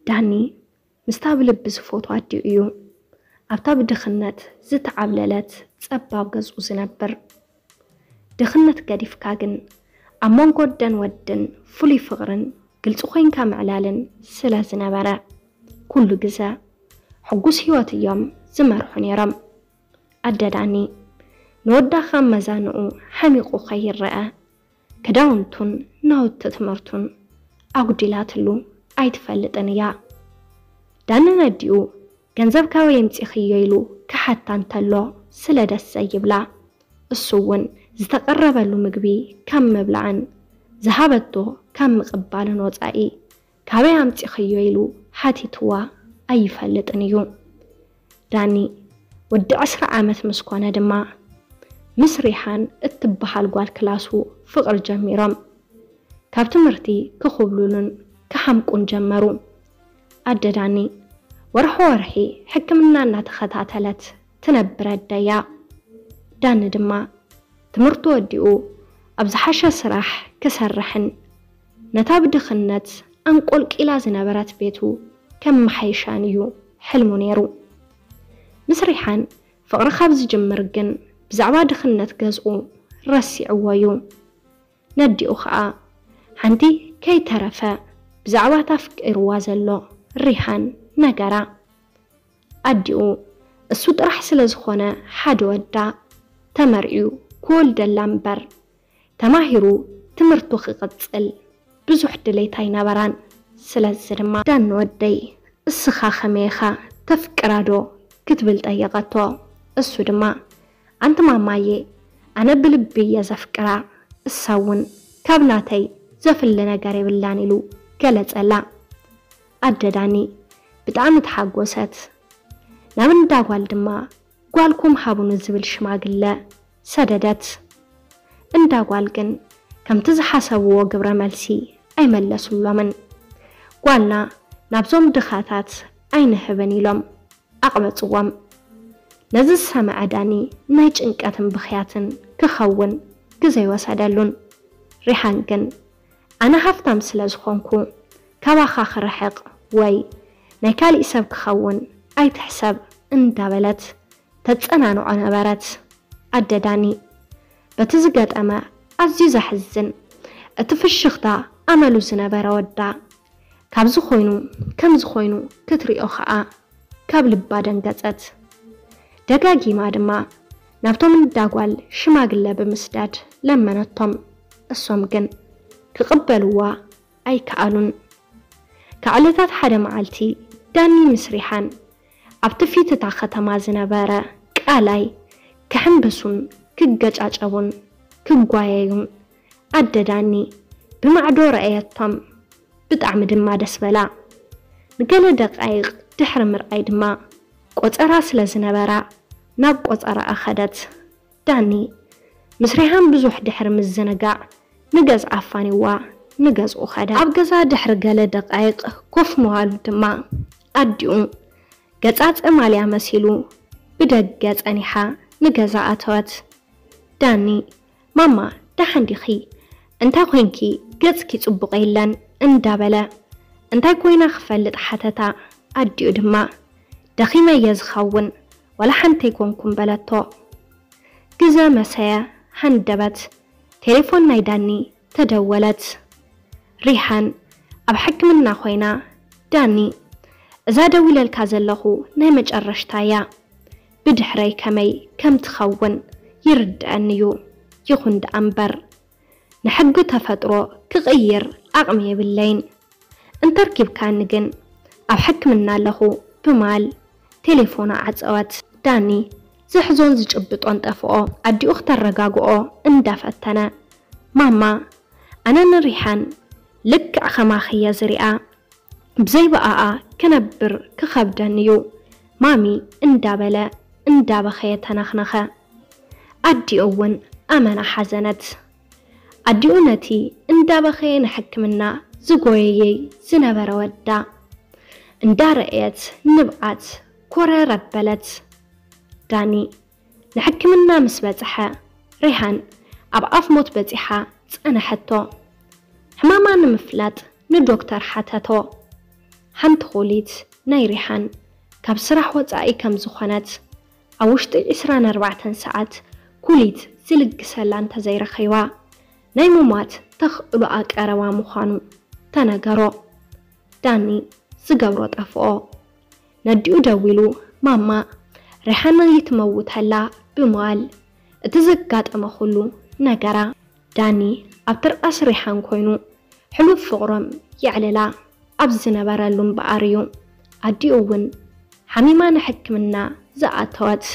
ዳኒ ምስታ ብልቢ ዝፎትዋ ኣዲኡ እዩ ኣብታ ብድኽነት ዝተዓብለለት ጸባብ ገዝኡ ዝነብር። ድኽነት ገዲፍካ ግን ኣብ መንጎ ኣደን ወድን ፍሉይ ፍቕርን ግልጺ ኮይንካ ምዕላልን ስለ ዝነበረ ኩሉ ግዘ ሕጉስ ህይወት እዮም ዝመርሑ ነይሮም። ኣደ ዳኒ ንወዳ ካብ መዛንኡ ሓሚቑ ከይረኣ ክዳውንቱን ናውቲ ትምህርቱን ኣጉዲላትሉ ኣይትፈልጥን እያ። ዳንን ኣዲኡ ገንዘብ ካበይ ኣምጺኽዮ ኢሉ ክሓታ እንተሎ ስለ ደስ ዘይብላ እሱ እውን ዝተቐረበሉ ምግቢ ካብ ምብላዕን ዝሃበቶ ካብ ምቕባልን ወጻኢ ካበይ ኣምጺኽዮ ኢሉ ሓቲትዋ ኣይፈልጥን እዩ። ዳኒ ወዲ ዕስራ ዓመት ምስ ኮነ ድማ ምስ ሪሃን እትበሃል ጓል ክላሱ ፍቕሪ ጀሚሮም። ካብ ትምህርቲ ክኹብሉሉን ክሓምቁን ጀመሩ። ኣደ ዳኒ ወርሖ ወርሒ ሕክምና እናተኸታተለት ትነብር ኣደ'ያ። ዳኒ ድማ ትምህርቱ ወዲኡ ኣብ ዝሓሸ ስራሕ ክሰርሕን ነታ ብድኽነት ኣንቆልቂላ ዝነበረት ቤቱ ከመሓይሻን እዩ ሕልሙ ነይሩ። ምስ ሪሓን ፍቕሪ ካብ ዝጅምር ግን ብዛዕባ ድኽነት ገዝኡ ረሲዕዎ እዩ። ነዲኡ ከኣ ሓንቲ ከይተረፈ ብዛዕባ እታ ኣፍቂርዋ ዘሎ ሪሃን ነገራ። ኣዲኡ እሱ ጥራሕ ስለ ዝኾነ ሓደ ወዳ ተመርዕዩ ክወልደላ እምበር ተማሂሩ ትምህርቱ ክቅጽል ብዙሕ ድሌት ኣይነበራን ስለዚ ድማ። ዳኒ ወደይ እስኻ ከመይ ኢኻ ተፍቅራ ዶ ክትብል ጠየቀቶ እሱ ድማ ኣንቲ ማማየ ኣነ ብልቢ እየ ዘፍቅራ እሳ እውን ካብ ናተይ ዘፍሊ ነገር የብላን ኢሉ ገለጸላ ኣደ ዳኒ ብጣዕሚ ተሓጎሰት ናብ እንዳ ጓል ድማ ጓልኩም ሃቡኒ ዝብል ሽማግለ ሰደደት። እንዳ ጓል ግን ከምቲ ዝሓሰብዎ ግብረ መልሲ ኣይመለሱሎምን። ጓልና ናብዞም ድኻታት ኣይንህብን ኢሎም ኣቕበጽዎም። ነዚ ዝሰመዐ ዳኒ ናይ ጭንቀትን ብኽያትን ክኸውን ግዘ ኣይወሰደሉን። ሪሓን ግን ኣነ ሃፍታም ስለ ዝኾንኩ ካባኻ ክርሕቕ ወይ ናይ ካሊእ ሰብ ክኸውን ኣይትሕሰብ እንዳበለት ተጸናንዖ ነበረት ኣደ ዳኒ። በቲ ዝገጠመ ኣዝዩ ዘሕዝን እቲ ፍሽኽታ ኣመሉ ዝነበረ ወዳ፣ ካብዚ ኮይኑ ከምዚ ኮይኑ ክትሪኦ ከኣ ካብ ልባ ደንገጸት። ደጋጊማ ድማ ናብቶም እንዳ ጓል ሽማግለ ብምስዳድ ለመነቶም። እሶም ግን ክቕበልዋ ኣይከኣሉን። ካብ ዕለታት ሓደ መዓልቲ ዳኒ ምስ ሪሓን ኣብቲ ፊት እታ ከተማ ዝነበረ ቃላይ ክሕምብሱን ክገጫጨቡን ክጓየዩን ኣደ ዳኒ ብማዕዶ ረኣየቶም፣ ብጣዕሚ ድማ ደስ በላ። ንገለ ደቓይቕ ድሕሪ ምርኣይ ድማ ቆጸራ ስለ ዝነበራ ናብ ቆጸራኣ ከደት። ዳኒ ምስ ሪሃም ብዙሕ ድሕሪ ምዝንጋዕ ንገዝኣ ኣፋንይዋ ንገዝኡ ከደ። ኣብ ገዛ ድሕሪ ገለ ደቓይቕ ኮፍ ምባሉ ድማ ኣዲኡ ገጻ ጸማልያ መሲሉ ብደገ ጸኒሓ ንገዛ ኣተወት። ዳኒ ማማ ደሓን ዲኺ? እንታይ ኮይንኪ ገጽኪ ጽቡቕ የለን እንዳበለ እንታይ ኮይና ክፈልጥ ሓተታ። ኣዲኡ ድማ ደኺመ እየ ዝኸውን ዋላ ሓንቲ ኣይኮንኩን በለቶ። ግዘ መሰየ ሃንደበት ቴሌፎን ናይ ዳኒ ተደወለት። ሪሃን ኣብ ሕክምና ኮይና ዳኒ እዛ ደዊለልካ ዘለኹ ናይ መጨረሽታ እያ። ብድሕረይ ከመይ ከም ትኸውን ይርደኣኒ ዩ ይኹን ደኣ እምበር ንሕጊ ተፈጥሮ ክቕይር ዓቕሚ የብለይን እንተርኪብካኒ ግን ኣብ ሕክምና ኣለኹ ብማል ቴሌፎና ዓጸወት። ዳኒ ዝሕዞን ዝጭብጦን ጠፍኦ ኣዲኡ ክተረጋግኦ እንዳ ፈተነ ማማ ኣነ ንሪሓን ልክዕ ከማኺ እየ ዝሪኣ ብዘይ ብኣኣ ክነብር ክኸብደኒ ዩ ማሚ እንዳበለ እንዳበኸየ ተነኽነኸ። ኣዲኡ እውን ኣመና ሓዘነት። ኣዲኡ ነቲ እንዳበኸየ ንሕክምና ዝጎየየይ ዝነበረ ወዳ እንዳረእየት ንብዓት ኮረር ኣበለት። ዳኒ ንሕክምና ምስ በጽሐ፣ ሬሃን ኣብ ኣፍ ሞት በጺሓ ጸነሐቶ። ሕማማ ንምፍላጥ ንዶክተር ሓተቶ። ሓንቲ ኩሊት ናይ ሬሃን ካብ ስራሕ ወጻኢ ከም ዝኾነት፣ ኣብ ውሽጢ ዕስራን ኣርባዕተን ሰዓት ኩሊት ዝልግሰላ እንተዘይረኺባ፣ ናይ ምሟት ተኽእሎኣ ቀረባ ምዃኑ ተነገሮ። ዳኒ ዝገብሮ ጠፍኦ። ነዲኡ ደዊሉ ማማ ሪሓና ይትመውት ኣላ ብምባል እቲ ዘጋጠመ ኩሉ ነገራ። ዳኒ ኣብ ትርኣስ ሪሓን ኮይኑ ሕሉፍ ፍቕሮም የዕልላ ኣብ ዝነበረሉ እምበኣር እዩ ኣዲኡ እውን ሓሚማ ንሕክምና ዝኣተወት።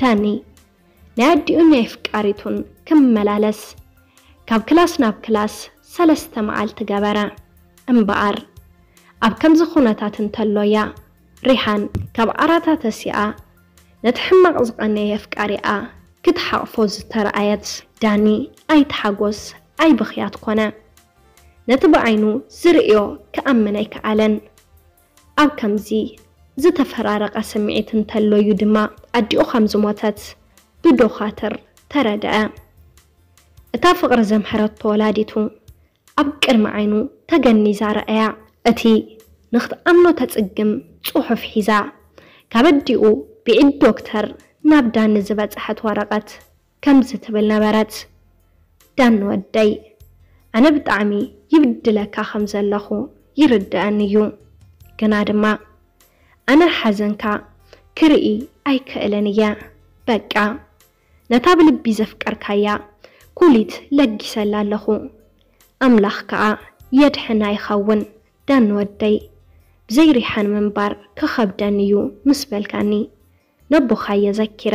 ዳኒ። ናይ ኣዲኡን ናይ ኣፍቃሪቱን ክመላለስ ካብ ክላስ ናብ ክላስ ሰለስተ መዓልቲ ገበረ። እምበኣር ኣብ ከምዚ ኩነታት እንተሎ እያ ሪሃን ካብ ዓራታ ተሲኣ ነቲ ሕማቕ ዝቐነየ ኣፍቃሪኣ ክትሓቕፎ ዝተረኣየት። ዳኒ ኣይተሓጎስ ኣይብኽያት ኮነ። ነቲ ብዓይኑ ዝርእዮ ክኣምን ኣይከኣለን። ኣብ ከምዚ ዝተፈራረቐ ስምዒት እንተሎ እዩ ድማ ኣዲኡ ከም ዝሞተት ብዶኻትር ተረድኣ። እታ ፍቕሪ ዘምሐረቶ ወላዲቱ ኣብ ቅድሚ ዓይኑ ተገኒዛ ረኣያ። እቲ ንኽትኣምኖ ተጽግም ጽሑፍ ሒዛ፣ ካብ ኣዲኡ ብኢድ ዶክተር ናብ ዳኒ ዝበጸሐት ወረቐት። ከምዚ ትብል ነበረት፣ ዳኒ ወደይ፣ ኣነ ብጣዕሚ ይብድለካ ከም ዘለኹ ይርደኣኒ እዩ፣ ግና ድማ ኣነ ሓዘንካ ክርኢ ኣይክእልን እየ፣ በቃ ነታ ብልቢ ዘፍቀርካያ ኩሊት ለጊሰላ ኣለኹ፣ ኣምላኽ ከኣ የድሕና ይኸውን፣ ዳኒ ወደይ፣ ብዘይ ሪሓን ምንባር ክኸብደኒ እዩ ምስ በልካኒ፣ ነቦኻየ ዘኪረ፣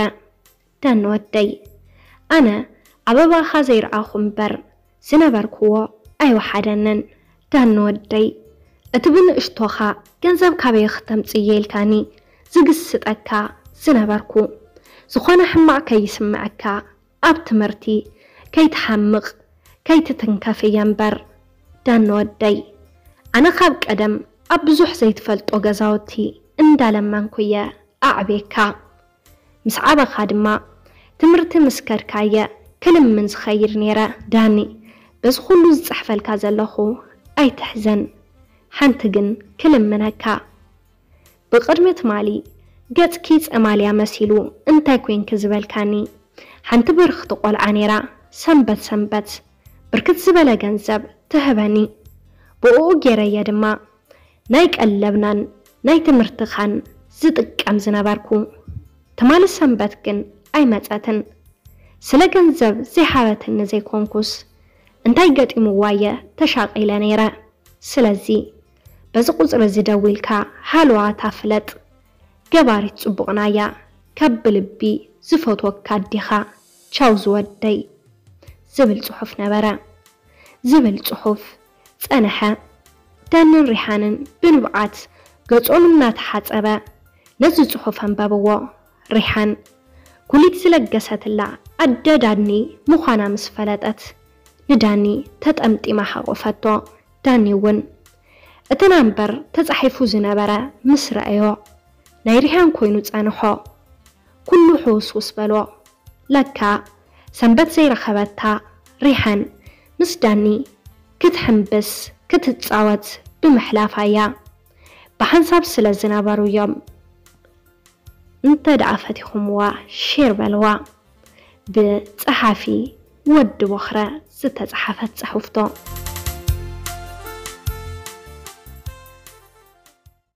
ደን ወደይ ኣነ ኣበባኻ ዘይረኣኹ እምበር ዝነበርክዎ ኣይወሓደንን ደን ወደይ እቲ ብንእሽቶኻ ገንዘብ ካበይ ክተምጽእየ ኢልካኒ ዝግስጠካ ዝነበርኩ ዝኾነ ሕማቕ ከይስመዐካ ኣብ ትምህርቲ ከይትሓምቕ ከይትትንከፍ እየ እምበር ደን ወደይ ኣነ ካብ ቀደም ኣብ ብዙሕ ዘይትፈልጦ ገዛውቲ እንዳለመንኩ እየ ኣዕብየካ ምስ ዓበኻ ድማ ትምህርቲ ምስ ከድካ'የ ክልምን ዝኸይድ ነይረ። ዳኒ፣ በዚ ኹሉ ዝጽሕፈልካ ዘለኹ ኣይትሕዘን፣ ሓንቲ ግን ክልምነካ፣ ብቕድሚ ትማሊ ገጽኪ ጸማልያ መሲሉ እንታይ ኮይንኪ ዝበልካኒ ሓንቲ ብርኽቲ ቆልዓ ነይራ ሰንበት ሰንበት ብርክት ዝበለ ገንዘብ ትህበኒ ብኡኡ ገይረ'የ ድማ ናይ ቀለብናን ናይ ትምህርትኻን ዝጥቀም ዝነበርኩ። ትማሊ ሰንበት ግን ኣይመጸትን። ስለ ገንዘብ ዘይሃበትኒ ዘይኮንኩስ፣ እንታይ ገጢሙዋ'የ ተሻቒለ ነይረ። ስለዚ በዚ ቁጽሪ'ዚ ደዊልካ ሃለዋታ ፍለጥ። ገባሪት ጽቡቕና'ያ። ካብ ብልቢ ዝፈትወካ ኣዴኻ። ቻው ዝወደይ። ዝብል ጽሑፍ ነበረ። ዝብል ጽሑፍ። ጸንሐ። ዳንን ሪሓንን ብንብዓት ገጾም እናተሓጸበ ነዚ ጽሑፍ ኣንበብዎ። ሪሓን ኩሊት ዝለገሰትላ ኣደ ዳኒ ምዃና ምስ ፈለጠት ንዳኒ ተጠምጢማ ሓቖፈቶ። ዳኒ'ውን እቲ ናምበር ተጻሒፉ ዝነበረ ምስ ረኣዮ ናይ ሪሃን ኮይኑ ጸንሖ። ኩሉ ሕውስውስ በሎ ለካ ሰንበት ዘይረኸበታ ሪሓን ምስ ዳኒ ክትሕምብስ ክትጻወት ብምሕላፋ እያ ብሓንሳብ ስለ ዝነበሩ እዮም እንተ ደኣ ፈቲኹምዋ ሼር በልዋ ብ ጸሓፊ ወዲ ቦኽረ ዝተጻሓፈት ጽሑፍቶ።